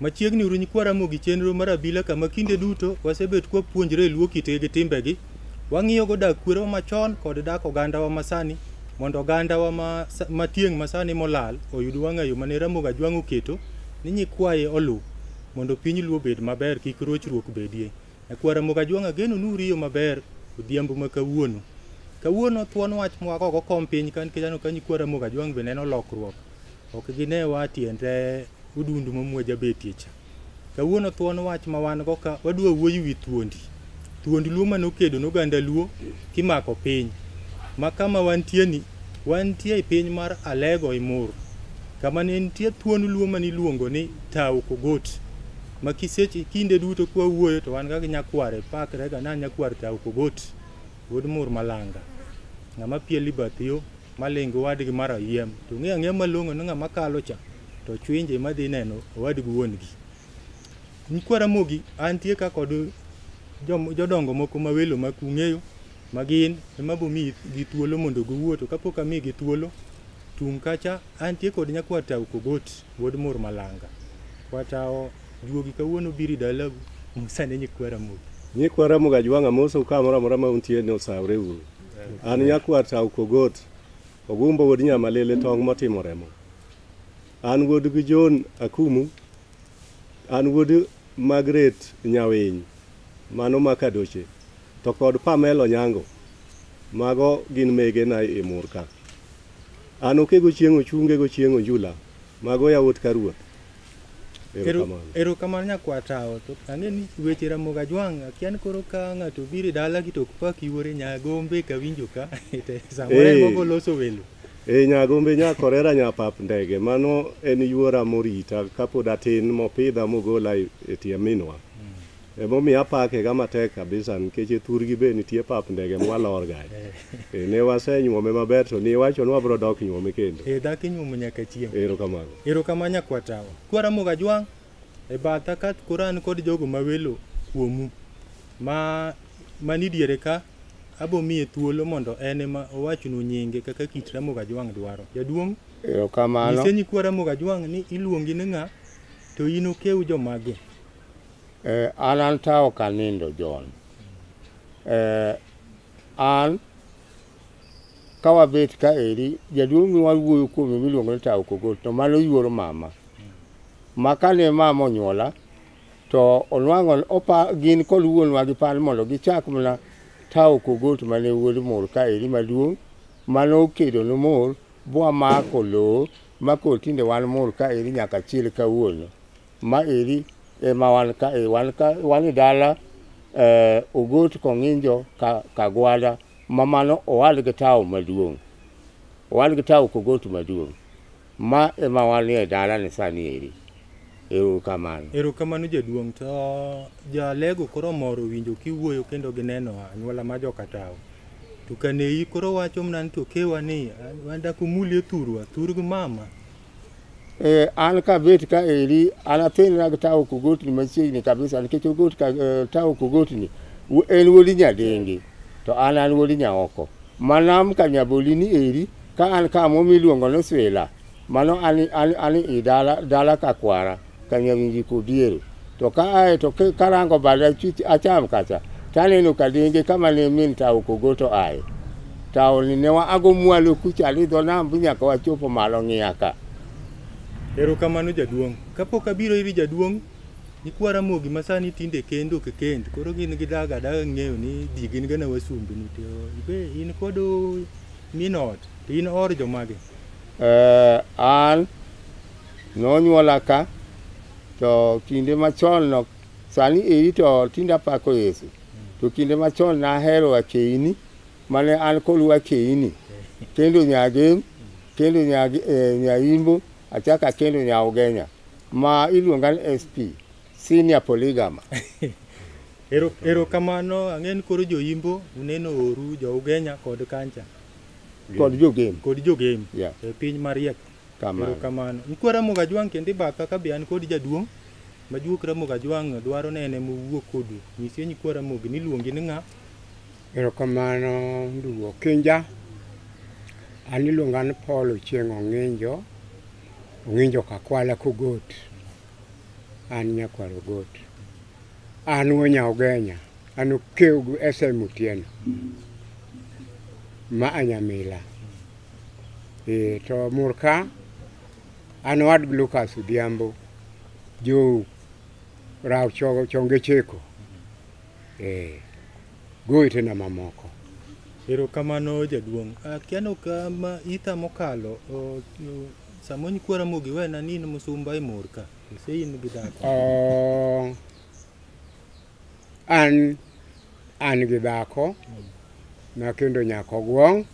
Machiegni uru nyikwa Ramogi chenro mar abila kama kinde duto wasebet kwa puonjre luo kitegi gi timbegi. Wang'iyo go dak kwero machon kod dak oganda wa masani mondo oganda wa ma, ma tieng' masani molal oyud wang'ayo mane Ramogi Ajwang' oketo ni nyikwaye oluw mondo piny luo bed maber kik rochruok bedie. Nyakwar Ramogi Ajwang' ageno ni uriyo maber odhiambo ma kawuono. Kawuono thuon wach mwak oko kom piny ka nikech aneno ka nyikwar Ramogi Ajwang' be neno lokruok. Ok gine wa tiend odundu ma mwa jabetie cha. Kawuono thuon wach ma wan go ka wadwa wuoyo wi thuondi. Thuond Luo ma nokedo ne oganda Luo kimako piny. Ma kama wantie ni wantie e piny mar Alego Imur. Kama ne nitie thuon Luo ma niluongo ni Tau Kogot. ma kiseche kinde duto kwa wuoyo to wan kaka nyakware pakre ga na nyakwar tao kogot wuod mur malanga ng'ama piel ibathiyo malingo wadgi mar ayiem to ng'e ang'e malong'o ni ng'ama kalo cha to chwinje madhi neno owadgi wuongi nyikwara mogi antie ka kod jom- jodongo moko ma welo ma kung'eyo ma gin ema bomi gi thuolo mondo giwuo to kapok ami gi thuolo tung' kacha antie kod nyakwar tao kogot Wuod mur malanga. Kwatawo juogi kawuono biri dalagu Musa ne nyikwa Ramogi. Nyikwa Ramogi ajwang' amosou kamoro amora ma untie ni osawre uru. An nyakwar Tau Kogot, Ogumbo wuod Nyamalele tong' motimo remo. An wuod gi John Akumu, an wuod Margaret Nyawiny, mano ma Kadoche, to kod Pamela Onyango, mago gin megena e mur ka. An okego chieng' ochunge go chieng' onjula. Mago yawuot ka ruoth. Erokamano. Erokamano nyakwar tawo. To ang'e ni weche Ramogi Ajwang' akia ni koro ka ng'ato obiro e dala gi to ok pak yuore Nyagombe ka winjo ka. Samoro en mogo loso welo. E Nyagombe nya Korera nya pap ndege. Mano en yuora morita kapod atin mopidha mogola e tie minwa. Emomiyo apake ga matek kabisa nikech e thurgi be nitie pap ndege mwalor ga. Eh. Eh, ne wasenyuome maber to ni iwacho ni wabro dok nyuome kendo. Eh, dhako inyuomo nyaka chieng'. Erokamano. Erokamano nyakwatawa. Kwaramoga jwang' e batha ka koro an kod jogo ma welo kuomu ma mani diere ka abo miye thuolo mondo en ema owachnu nyinge kaka kit Ramoga Jwang' dwaro. Jaduong'. Erokamano. Nyise nyikwa Ramoga Jwang' ni iluongi ni ng'a to in okew jomage. Eh, an an ta ok anindo John. Eh, an ka wabet ka eri jaduong' mi wawuoyo kuome miluongo ni Tao Kogo to mano yuoro mama. Ma kane mama onyuola to onwang'o opa gin kod wuonwa gi pan mondo gichak mana Tao Kogot mane wuod mor ka eri maduong' mane okedo ne mor bwamako lowo ma koro tinde wan mor ka eri nyaka chil kawuono. Ma eri ema wan ka e wan ka wan e dala eh, Ogot Kong'injo ka, Kagwada ma mano owal gi tawo maduong'. Owal gi tawo Kogot maduong'. Ma ema wan e dala ni sani eri. Ero kamano. Erokamano jaduong' to jalego koro moro winjo kiwuoyo kendo gineno anyuola ma joka tawo. To kaneyi koro wacho mna ni to kewa ni wan dakumuli e thurwa, thurg mama. eh, an kabet ka eri an athin nag tawo kogotni machiegni kabisa nikech ogot ka, eh, tawo kogotni wu- en wuodi nyadengi to an an wuodi nyaoko manam ka nyabolini eri ka an kamo miluongo ni swila mano an, an, an i dala, dala ka kwara Kanya winji kodiere. To ka ae to karango bada acham kacha. Taneno kadenge kama ne min tao kogo to ae. Tao ni ne wa ago mwalo kucha alidho nam nyaka wachopo malo ng'iya ka. Ero kamano jaduong'. Kapok abiro iri jaduong', nikwa Ramogi ma sani tinde kendo ke kend. Koro gin gi daga daga ng'eyo ni di gin gana wasumbi ni to ibe in kod minot. To in or jomage? Uh, an Nonyuola ka to kinde machon no sani eri to tinde apako Yesu. To kinde machon nahero akeini mane an kolu akeini. Kendo nyagem, kendo nyag, eh, nyaimbo, achako akendo nyaugenya ma iluonga ni SP, senior polygama. Ero, ero kamano ang'e ni koro joimbo uneno oru jougenya kod kancha Kod jogem. kod jogem Yeah. e piny mariek Kamano. Erokamano. Nyikwa Ramogi Ajwang' kendo ibaka ka be an kod jaduong' majuok Ramogi Ajwang' dwaro ne en ema owuo kodu. Nyisye nyikwa Ramogi ni iluongi ni ng'a? Erokamano ndugu Okinja. An iluonga ni Paul Ochieng' Ong'injo, Ong'injo Kakwala Kogot. An nyakwar Ogot. An wuo nya Ogenya, an Okeugu SM Otieno ma a Nyamila. Ee, to Murka an wad Lucas Odhiambo jo raw chogo chonge cheko. Ee, gowetena mamoko. Erokamano jaduong'. Akia ni ok ma itha mokalo o- o- sama onyikwara mogi wena ni in musumba e mor ka. Ise in gi dhako. Oh, An an gi dhako ma kendo nyako gwong',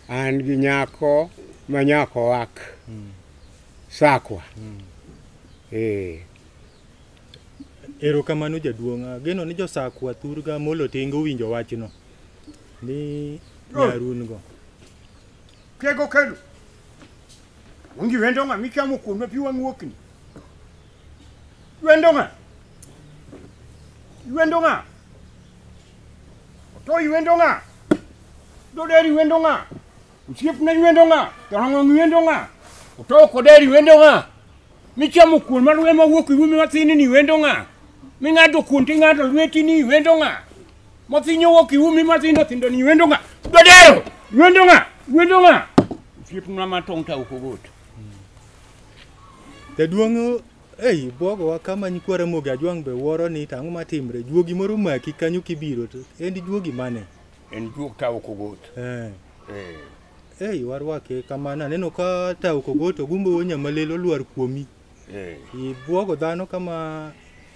an gi nyako ma nyako wak sakwa. Eh, Erokamano jaduong'. Ageno ni josakwa thurga molo tengo winjo wachno ni nyarun go. Tego kelo. Ongi wendo ng'a michamo kuome pi wang'uokni. Ywendo ng'a? Ywendo ng'a? To ywendo ng'a? Doderi ywendo ng'a? Osiepna ywendo ng'a? Jolang'ong ywendo ng'a? To koderi ywendo ng'a? Michamo kuon mar we mawuok iwu mi mathini ni ywendo ng'a? Ming'ado kuon ting'ado lweti ni ywendo ng'a? Mathinyo wuok iwu mi mathindo thindo ni ywendo ng'a? Dodero ywendo ng'a? Ywendo ng'a? Osiepna matong' ta ok ogot. Jaduong' ei bwogowa kama nyikwa Ramogi Ajwang' be wuoro ni to ang'o matimre, juogi moro maki kanyo kibiro to en juogi mane? En juog Tao Kogot. Eh. Eh. Ei warwake kamano aneno ka Tao Kogot ogumbo wo nyamalelo lwar kuomi. Eh. Ibwogo dhano kama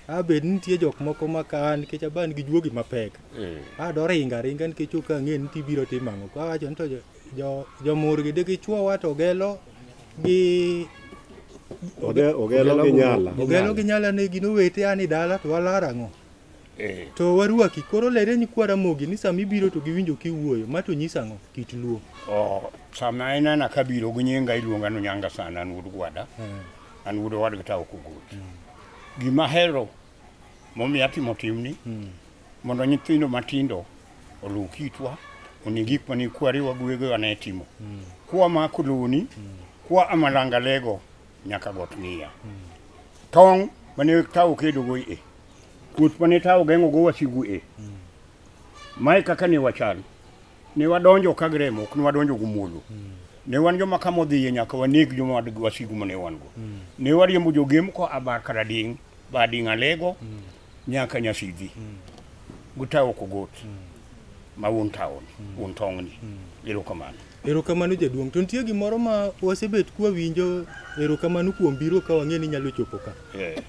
abed nitie jok moko ma ka an nikech aban gi juogi mapek. Eh. Ado ringa ringa nikech ok ang'e ni tibiro timo ang'o. Kawacho ni to jo- jo- jomurgi digichwowa to gelo gi Oge- Ogelo gi Nyala. Ogelo gi Nyala ne gin owete ani dala to walar ang'o? Eh. To warwaki koro lere ni kwa Ramogi ni sama ibiro to giwinjo kiwuoyo ma to nyisa ang'o kit luo. Oh, sama inena kabiro gi nyinga iluonga ni Nyanga sana an wuod gwada. An wuod owadgi ta ok ogot. Gima hero Momiyo atimo timni mondo nyithindo matindo oluw kitwa oni gik mane kwariwa guegewa ne timo. Kwa mako loni, kwa amalanga lego nyaka got ng'iya. Tong' mane tawo kedogo e, kuoth mane tawo geng'ogo wasigu e. Mae kaka ne wachal. Ne wadonjo ka gremo, ok ne wadonjo gumuolo. Ne wan joma kama odhiye nyaka waneg joma wad- wasigu mane wan go. Ne wariembo jogem ko abar karading' badi ng'alego nyaka nyasidhi gutawo kogot ma un taon un tong'ni erokamano Erokamano jaduong'. To nitie gimoro ma wasebet kwa winjo erokamano kuom biro ka wang'e ni nyalo chopo ka. Eh,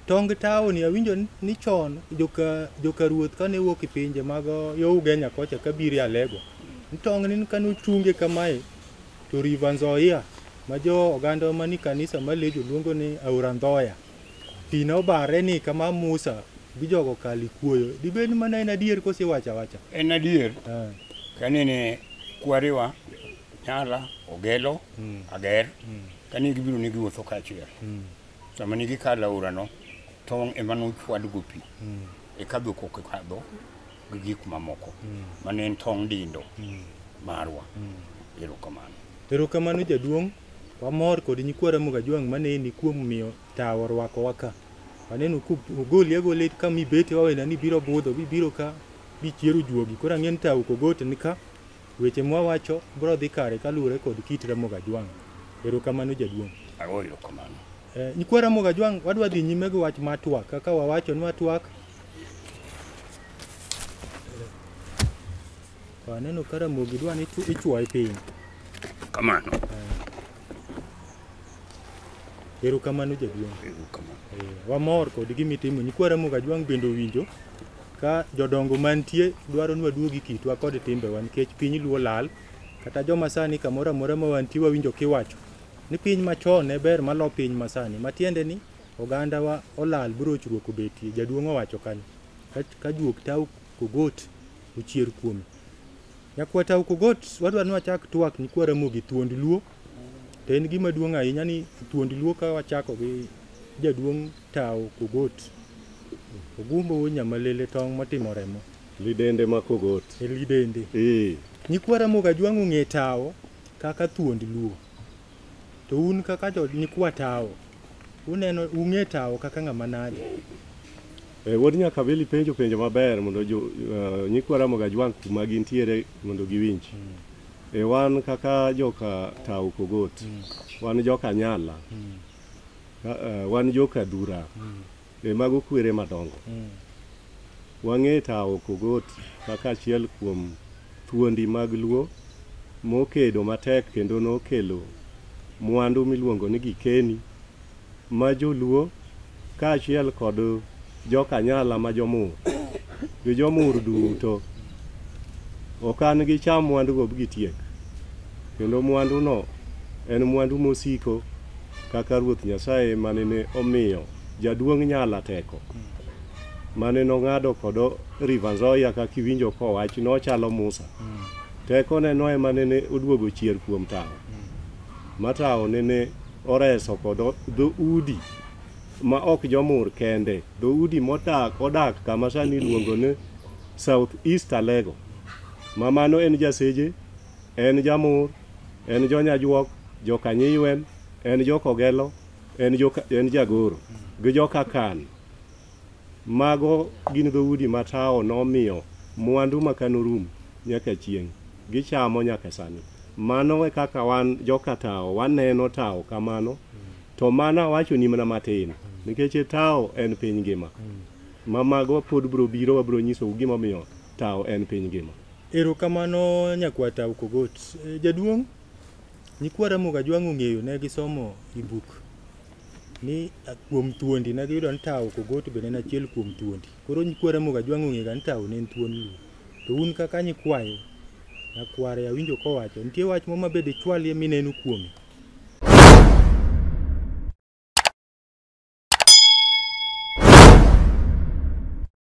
Tong taoni awinjo ni- ni chon joka joka ruoth kane wuok e pinje mag yo Ugenya kocha ka biro e Alego. Ni Tong ni kane ochunge kamae to River Nzoia ma jo oganda mani kanisa ma Lejo luongo ni Aora Ndhoya. Pi ne obare ni kama Musa gi jogo kalo ikuoyo. Dibed ni mano en adier koso iwacho awacha? En adier Eh, kanene kwarewa nyala ogelo Mm. ager mm, kane gibiro ne giwuotho kaachiel mm, sama ne gikalo aorano tong' ema nochwadgo pi mm. e kadho kokadho gi gik mamoko mane en tong' dindo marwa erokamano Erokamano jaduong', wamor kod nyikwa Ramogi Ajwang' maneni kuom miyo tawo orwakowa ka. Waneno kogoli agola it kama ibete wawena ni biro budho bibiro ka bichiero juogi. Koro ang'e ni tawo kogot ni ka weche mwawacho biro dhi kare kaluwore kod kit Ramogi Ajwang'. Erokamano jaduong'. ago erokamano Eh, Nyikwa Ramogi Ajwang' wadwa dhi nyime gi wach mar twak kaka wawacho ni watwak Waneno ka ramogi dwa ni ichu- ichuoye piny. Kamano. Erokamano jaduong'. Erokamano. Eh, Wamor kod gima itimo. Nyikwa Ramogi Ajwang' bende owinjo ka jodongo mantie dwaro ni waduogi kitwa kod timbewa nikech piny luo lal. Kata joma sani kamoro amora ma wantie wawinjo kiwacho ni piny machon ne ber malo piny masani. Matiende ni Ogandawa olal brochruok obetie, jaduong' owacho kanyo. Ka juok tau kogot ochier kuome. Nyakwa tau kogot wadwa ni wachak twak nyikwa Ramogi thuond Luo. To en gima duong' ahinya ni thuond Luo ka wachako gi jaduong' tau kogot. Ogumbo wuod nyamalele tong' motimo remo. Lidende ma kogot. E lidende. Ee. Nyikwa Ramogi Ajwang' ong'e tao kaka thuond Luo. To un kaka jo nyikwa tawo, uneno ung'e tawo kaka ng'ama nade? Eh, wuod Nyakabili penjo penjo maber mondo jo, uh, nyikwa Ramogi Ajwang' kuma gintiere mondo giwinj. Mm. Eh, wan kaka joka Tau Pogot, mm. wan joka Nyala, mm. uh, wan joka Dhura. Mm. Be mago kwere madongo? Wang'e tawo Kogot kaka achiel kuom thuondi mag Luo mokedo matek kendo nokelo mwandu miluongo ni gikeni ma joluo kaachiel kod jokanyala ma jomur gi jomur duto okan gicham mwandugo bgitiek. Kendo mwanduno en mwandu mosiko kaka Ruoth Nyasaye mane ne omiyo jaduong' Nyala teko, mane nong'ado kod River Nzoia kaka iwinjo kowach nochalo Musa. Tekone no ema nene oduogo chier kuom tawo, ma tawo nene oreso kod dho udi ma ok jomur kende, dho udi modak odak kama sani iluongo ni South East Alego, ma mano en Jaseje en Jamur, en Jonyajuok, joka Nyiywen, en Jokogelo, en, joka, en Jagoro gi joka Kan. Mago gin dhoudi ma tawo nomiyo mwandu ma kanorum nyaka chieng' gichamo nyaka sani. Mano e kaka wan joka tawo waneno tawo kamano to mana wachoni mana matin nikech tawo en piny ngima ma mago pod bro biro wabro nyisou gimomiyo tawo en piny ngima. Erokamano nyakwar Tau Kogot. E, jaduong', nyikwa Ramogi Ajwang' ong'eyo ne gisomo i buk ni a, kuom thuondi ne giyudo ni Tau Kogot bende en achiel kuom thuondi. Koro nyikwa Ramogi Ajwang' ong'ega ni Tau ne en thuon Luo. To un kaka nyikwayo, nyakware awinjo kowacho, nitie wach moro mabe dichwalie mineno kuome.